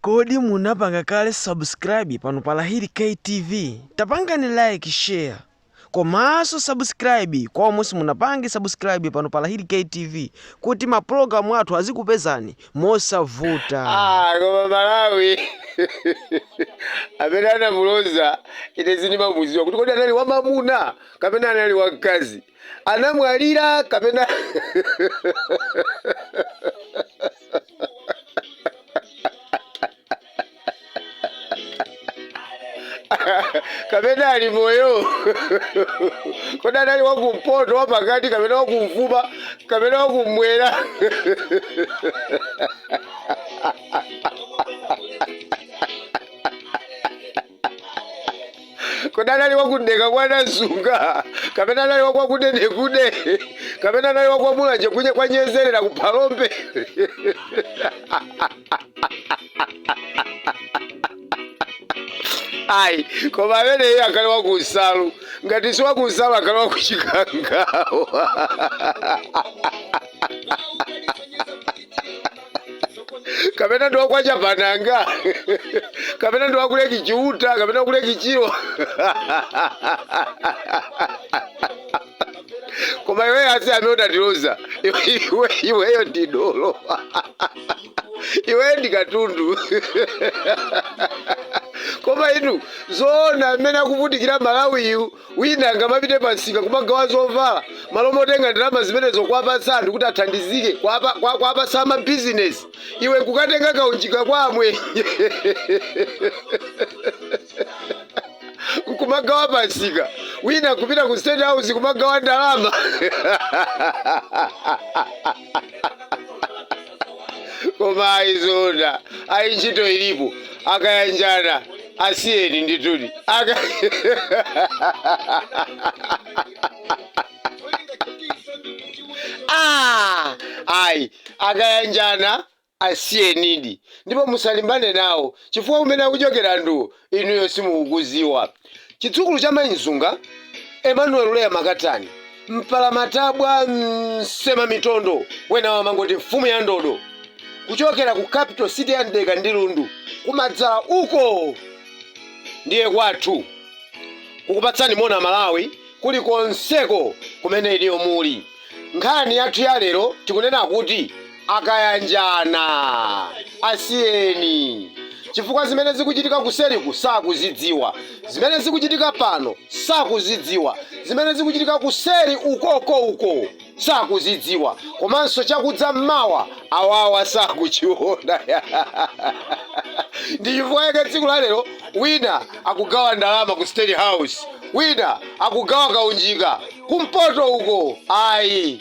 Kodi munapanga kale subscribe pano pa Lahiri K TV? Tapangani like, share komanso subscribe kwa omwe simunapange subscribe pano pa Lahiri K TV kuti ma program athu azikupezani mosavuta. Ah, koma Malawi amene anamuloza ine sindimamudziwa kuti kodi anali wamamuna kapena anali wamkazi anamwalira kapena kapena ali moyo kodi anali wakumpoto wapakati kapena wakumvuma kapena wakumwera kodi anali waku Mdeka kwa Namsunga kapena anali wakwakudedekude kapena anali wakwamulanje kwanyezerera ku phalombe ayi koma ameneyo anali wakunsalu ngati si wakunsalu anali wakuchikangawa kapena ndi wakwa chapananga kapena ndi waku Lake Chiuta kapena waku Lake Chilwa koma iweyo asa amene unatiloza iweyo ndi dolo iweyo ndi katundu koma inu zoona amene akuvutikira malawiyu Wina angamapite pa msika kumagawa zovala malo motenga ndalama zimenezo kuwapatsa anthu kuti athandizike kuwapatsa ama business iwe nkukatenga kaunjika kwa amwenye nkumagawa pa msika. Wina nkupita ku state house kumagawa ndalama koma azionana ayi ntchito ilipo akayanjana asiyeni ndithudi aka Ah, ayi akayanjana Asiyenidi, ndipo musalimbane nawo, chifukwa kumene akuchokera anthuwo inuyo simukukudziwa. Chidzukulu cha Mai Nzunga, Emmanuel Leah Makatani, mpalamatabwa, msemamitondo, wena wamangoti mfumu ya ndodo, kuchokera ku capital city ya Mdeka ndi Lundu kumadzala uko! Ndiye kwathu kukupatsani moni Amalawi kuli konseko kumene inuyo muli. Nkhani yathu ya lero tikunena kuti. akayanjana asiyeni chifukwa zimene zikuchitika kuseriku sakuzidziwa zimene zikuchitika pano sakuzidziwa zimene zikuchitika kuseri ukoko uko sakuzidziwa komanso chakudza mmawa awawa sakuchiona ndi chifukwa chake tsiku la lero wina akugawa ndalama ku state house wina akugawa kaunjika kumpoto uko ayi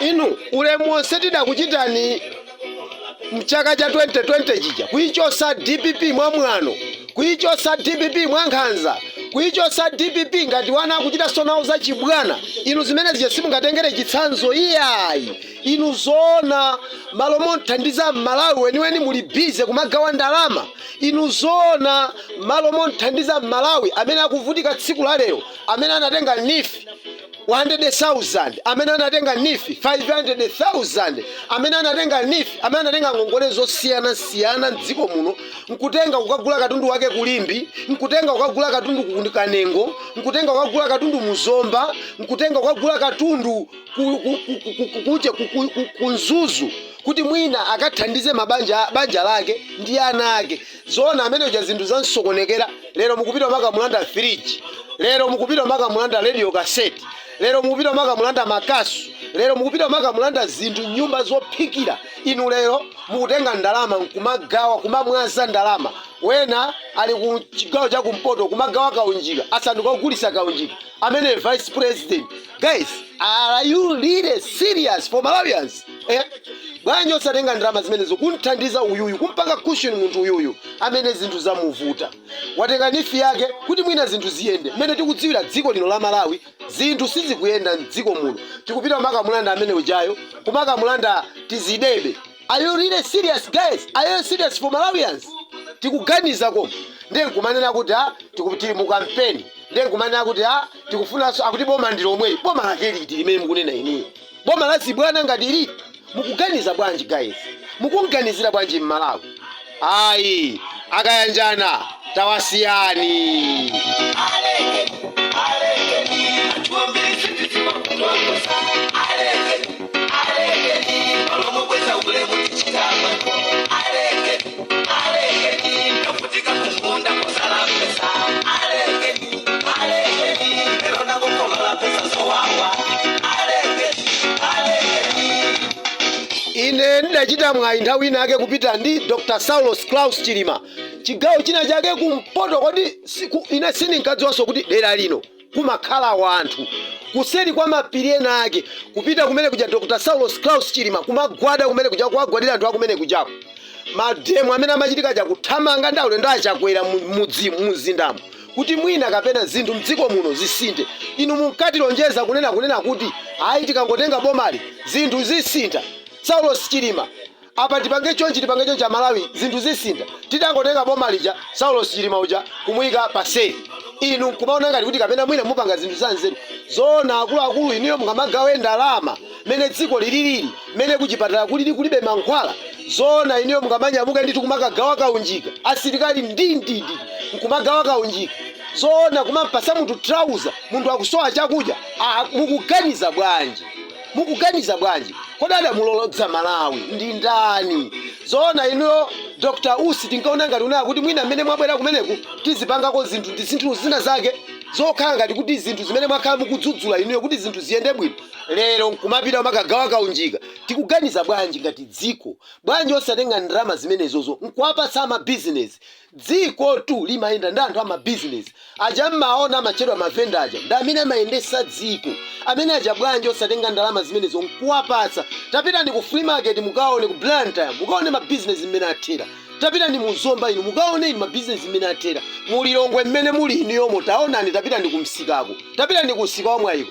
inu ulemu wonse tidakuchitani mchaka cha 2020 chija kuichosa dpp mwa mwano kuichosa dpp mwa nkhanza kuichosa dpp ngati ana akuchita sonawo za chibwana inu zimene zija simungatengere chitsanzo iyayi Inu zoona malo momthandiza mmalawi weniweni muli busy kumagawa ndalama? Inu zoona malo momthandiza mmalawi amene akuvutika tsiku la lero amene anatenga neef 100,000 amene anatenga neef 500,000 amene anatenga neef amene anatenga ngongole zosiyana siyana mdziko muno nkutenga kukagula katundu wake ku Limbe nkutenga kukagula katundu ku kanengo nkutenga kukagula katundu muzomba nkutenga kukagula katundu ku- ku- ku- ku- ku- ku- kuja ku- ku- ku- ku mzuzu kuti mwina akathandize mabanja banja lake ndi ana ake zoona amene uja zinthu zamsokonekera lero mukupita kumakamulanda firiji lero mukupita kumakamulanda radio cassette lero mukupita kumakamulanda makasu lero mukupita kumakamulanda zinthu mnyumba zophikira inu lero mukutenga ndalama nkumagawa kumamwaza ndalama wina ali ku chigawo cha kumpoto kumagawa kaunjika asanduka ogulitsa kaunjika amene vice president guys are you really serious for malawians eh? bwanji osatenga ndalama zimenezo kumthandiza uyuyu kumpanga cushion munthu uyuyu amene zinthu zamuvuta watenga neef yake kuti mwina zinthu ziyende mmene tikudziwira dziko lino la malawi zinthu sizikuyenda mdziko muno nkupita kumakamulanda amene ujayo kumakamulanda tizidebe are you really serious guys are you serious for malawians tikuganiza koma ndiye nkumanena kuti ha tikupita mu kampeni ndiye nkumanena kuti ha tikufunanso akuti boma ndi lomweli boma lake liti limene mukunena inuyo boma la zibwana ngati liti mukuganiza bwanji guys mukumganizira bwanji mmalawi ayi akayanjana tawasiyani ine ndidachita mwayi nthawi ina yake kupita ndi dr saulos klaus chilima chigawo china chake kumpoto kodi siku- ine sindinkadziwanso kuti dera lino kumakhala wanthu kuseri kwa mapiri ena ake kupita kumene kuja Dr Saulos Klaus Chilima kumagwada kumene kuja kuwagwadira anthu akumene kujako mademo amene amachitika aja kuthamanga ndi aulendo aChakwera mu- mudzi muzindamo kuti mwina kapena zinthu mdziko muno zisinthe inu munkatilonjeza kunena kunena kuti ayi tikangotenga bomali zinthu zisintha Saulos Chilima Apa tipange chonchi tipange chonchi amalawi zinthu zisintha. Titangotenga boma lija Saulos Chilima uja kumuyika pa sale inu nkumaona ngati kuti kapena mwina mupanga zinthu za nzeru. Zoona akuluakulu inuyo mungamagawe ndalama mmene dziko lililili mmene kuchipatala kulili kulibe mankhwala. Zoona inuyo mungamanyamuke ndithu kumakagawa kaunjika asilikali ndi ndi ndi nkumagawa kaunjika. Zoona kumampatsa munthu trouser munthu akusowa chakudya. Ah, mukuganiza bwanji? mukuganiza bwanji kodi adamulolodza malawi ndi ndani zoona inuyo dr usi tinkaona ngati kunena kuti mwina mmene mwabwera kumeneku tizipangako zinthu ndi zinthu zina zake zokhala ngati kuti zinthu zimene mwakhala mukudzudzula inuyo kuti zinthu ziyende bwino lero nkumapita kumakagawa kaunjika tikuganiza bwanji ngati dziko bwanji osatenga ndalama zimenezozo nkuwapatsa amabizinesi dzikotu limayenda ndi anthu amabizinesi aja mmaona amatchedwa mavenda aja ndi amene amayendesa dziko amene aja bwanji osatenga ndalama zimenezo nkuwapatsa tapitani ku free market mukaone ku blantyre mukaone mabizinesi mmene athera tapitani mu zomba inu mukaone inu mabizinesi mmene athera mulilongwe mmene muli inuyomo taonani tapitani ku msikako tapitani ku msika wa mwayiko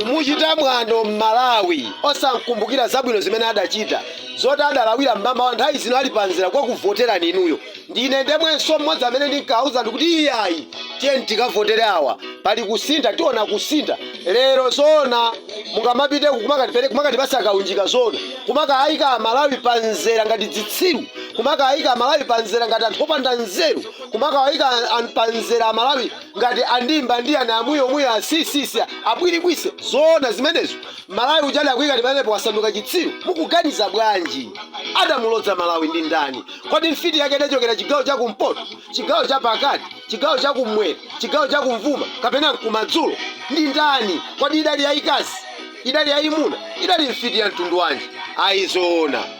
kumuchita mwano mmalawi osamkumbukira zabwino zimene adachita zoti adalawira mmamawa nthawi zino ali panzera kwa kuvoterani inuyo ndine ndemwenso mmodzi amene ndinkauza ndikuti iyayi tiyeni tikavotere awa pali kusintha tiona kusintha lero zoona mungamapite kumakatipere kumakatipasa kaunjika zoona kumakayika amalawi panzera ngati dzitsiru kumakawayika amalawi panzera ngati anthu opanda nzeru kumakawayika an- an- panzera amalawi ngati andimba ndi ana amwiyomuyo asisisi abwirikwise zoona zimenezo mmalawi uja adakuyikani pamenepo wasanduka chitsiru mukuganiza bwanji adamulodza malawi ndi ndani kodi mfiti yake idachokera chigawo cha kumpoto chigawo cha pakati chigawo cha kumwera chigawo cha kumvuma kapena mkumadzulo ndi ndani kodi idali yayikazi idali yayimuna idali mfiti ya mtundu wanji ayi zoona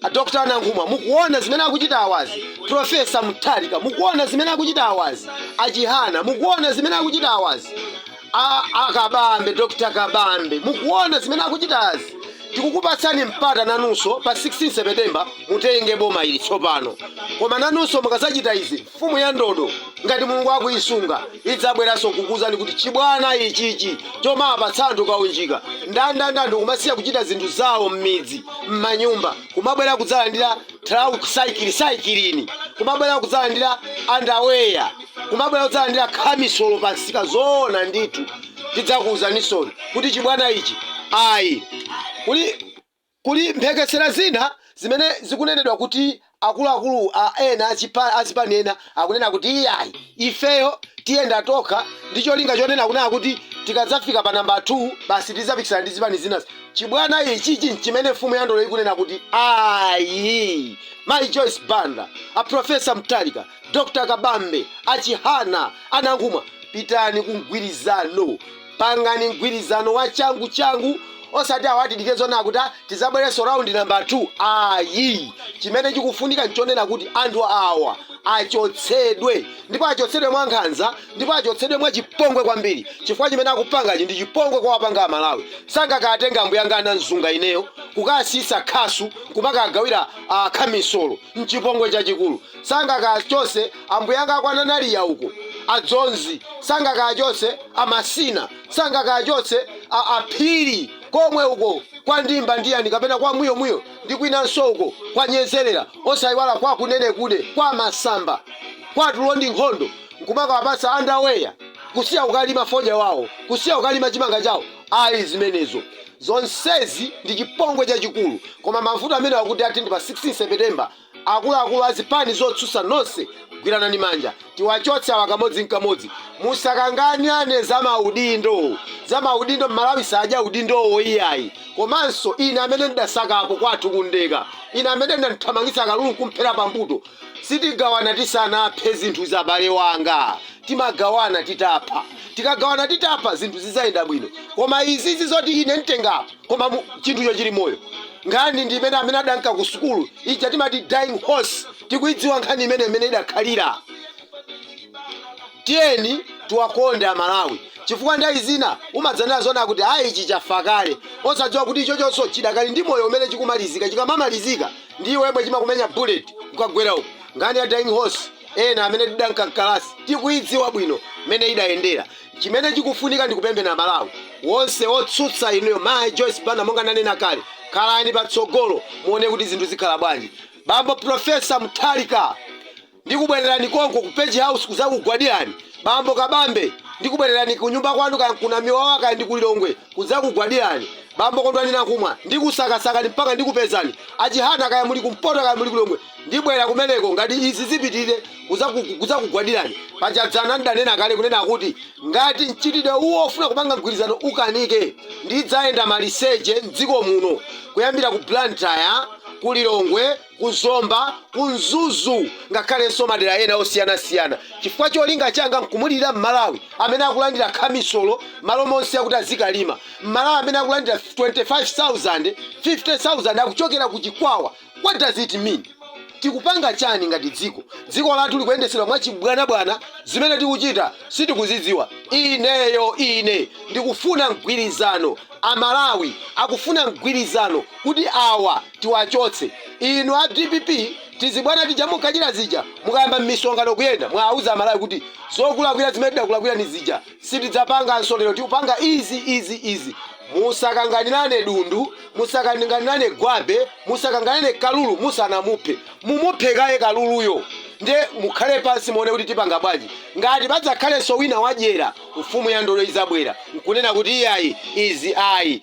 A Dr. Nankhumwa mukuona zimene akuchita awazi? Prof. Mutharika mukuona zimene akuchita awazi? A Chihana mukuona zimene akuchita awazi? A, a Kabambe, Dr. Kabambe mukuona zimene akuchita azi? Tikukupatsani mpata nanunso pa 16 September mutenge boma ili tsopano. Koma nanunso mukazachita izi Mfumu ya ndodo, ngati Mulungu akuisunga, idzabweranso kukuuzani kuti, Chibwana ichichi chomapatsa anthu kaunjika ndandanda ndikumasiya kuchita zinthu zawo m'midzi, m'manyumba, kumabwera kudzalandira thrauzi, saikilini, kumabwera kudzalandira andaweya, kumabwera kudzalandira khamisolo pansika, zoona ndithu tidzakuuzanisoni kuti chibwana ichi ayi. Kuli. Kuli mphekesera zina zimene zikunenedwa kuti akuluakulu ena achipa, a zipani ena akunena kuti iyayi ifeyo tiyenda tokha ndi cholinga chonena kunena kuti tikadzafika pa namba 2 basi tidzapikisana ndi zipani zinazi. Chibwana ichichi nchimene mfumu ya ndodo ikunena kuti ayi. Mayi Joyce Banda, a Prof. Mutharika, Dr. Kabambe, a Chihana, a Nankhumwa, pitani ku mgwirizano. Pangani mgwirizano wa changu changu osati awa atidike zonena kuti ah, tizabwerenso round number 2 ayi chimene chikufunika nchonena kuti anthu awa achotsedwe ndipo achotsedwe mwa nkhanza ndipo achotsedwe mwa chipongwe kwambiri chifukwa chimene akupangachi ndi chipongwe kwa wapanga amalawi sangakatenga ambuyanga a Namzunga ineyo kukasiyisa khasu kumakagawira ah, khamisolo mchipongwe chachikulu Sangakachotse ambuyanga akwa Nanariya uko, a Dzonzi. Sangakachotse a Masina. Sangakachotse a, a Phiri, komwe uko kwa Ndimba ndi yani, kapena kwa Mwiyo Mwiyo, ndi kwinanso uko kwa Nyezerera, osaiwala kwa Kunenekude, kwa Masamba, kwa Tulo ndi Nkhondo, nkumakawapatsa underwear, kusiya ukalima fodya wawo, kusiya ukalima chimanga chawo. Ayi, zimenezo. Zonsezi ndi chipongwe chachikulu. Koma mavuto amenewa kuti athe ndi pa 16 Sepetemba. Akuluakulu a zipani zotsutsa nonse gwiranani manja tiwachotse awa kamodzi nkamodzi. Musakanganirane za maudindo za maudindo Mmalawi sadya udindowo iyayi. Komanso ine amene ndidasakapo kwathu ku Mdeka ine amene ndidamthamangitsa kalulu nkumphera pambuto sitigawana tisanaphe zinthu za abale wanga. Timagawana titapha. Tikagawana titapha zinthu zidzayenda bwino. Koma izizi zoti ine mtengapo. koma mu- chinthucho chili moyo nkhani ndi imene amene adanka ku sukulu ija timati dying horse tikuidziwa nkhani imene imene idakhalira tiyeni tiwakonde amalawi chifukwa nthawi zina umadzanena zonena kuti ayi ichi chafa kale osadziwa kuti ichochonso chidakali ndi moyo mmene chikumalizika chikamamalizika ndi iwe yemwe chimakumenya bullet ukagwera uko nkhani ya dying horse ena amene tidanka mkalasi tikuidziwa bwino mmene idayendera Chimene chikufunika ndi kupemphera Malawi wonse otsutsa inuyo Mai Joyce Banda monga nanena kale khalani patsogolo muone kuti zinthu zikhala bwanji Bambo Professor Mutharika ndikubwererani konko ku Page House kuzakugwadirani Bambo Kabambe ndikubwererani kunyumba kwanu kaya nku Namiwawa kaya ndiku Lilongwe kuzakugwadirani Bambo Kondwani Nankhumwa ndikusakasakani mpaka ndikupezani a Chihana kaya muli ku mpoto kaya muli ku Lilongwe Ndibwera kumeneko ngati izi zipitirire kudzakugwadirani. Paja dzana ndidanena kale kunena kuti ngati mchitidwe uwo ofuna kupanga mgwirizano ukanike ndidzayenda maliseche m'dziko muno kuyambira ku Blantyre, ku Lilongwe, ku Zomba, ku Mzuzu ngakhalenso madera ena osiyanasiyana chifukwa cholinga changa nkumulirira m'Malawi amene akulandira khamisolo malo monse akuti azikalima, m'Malawi amene akulandira 25,000, 50,000 akuchokera ku Chikwawa. what does it mean? tikupanga chani ngati dziko? dziko lathu likuyendetsedwa mwachibwanabwana zimene tikuchita sitikuzidziwa. ineyo ine ndikufuna mgwirizano amalawi akufuna mgwirizano kuti awa tiwachotse. inu a dpp zibwana zija munkachita zija mukayamba mmisonkhano kuyenda mwauza amalawi kuti zokulakwira zimene tidakulakwirani zija. sitidzapanganso lero tikupanga izi izi izi musakanganirane dundu musakanganirane gwape musakanganirane kalulu musanamuphe mumuphe kaye kaluluyo nde mukhale pansi muone kuti tipanga bwanji ngati padzakhalenso wina wadyera mfumu ya ndodo idzabwera nkunena kuti iyayi izi ayi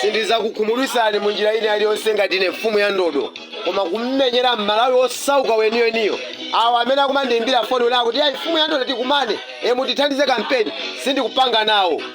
sindizakukhumudwitsani mu njira ina yaliyonse ngati ine mfumu ya ndodo koma kummenyera mmalawi osauka weniweniyo awo amene akumandiimbira foni ena akuti ayi mfumu ya ndodo tikumane mutithandize kampeni sindikupanga nawo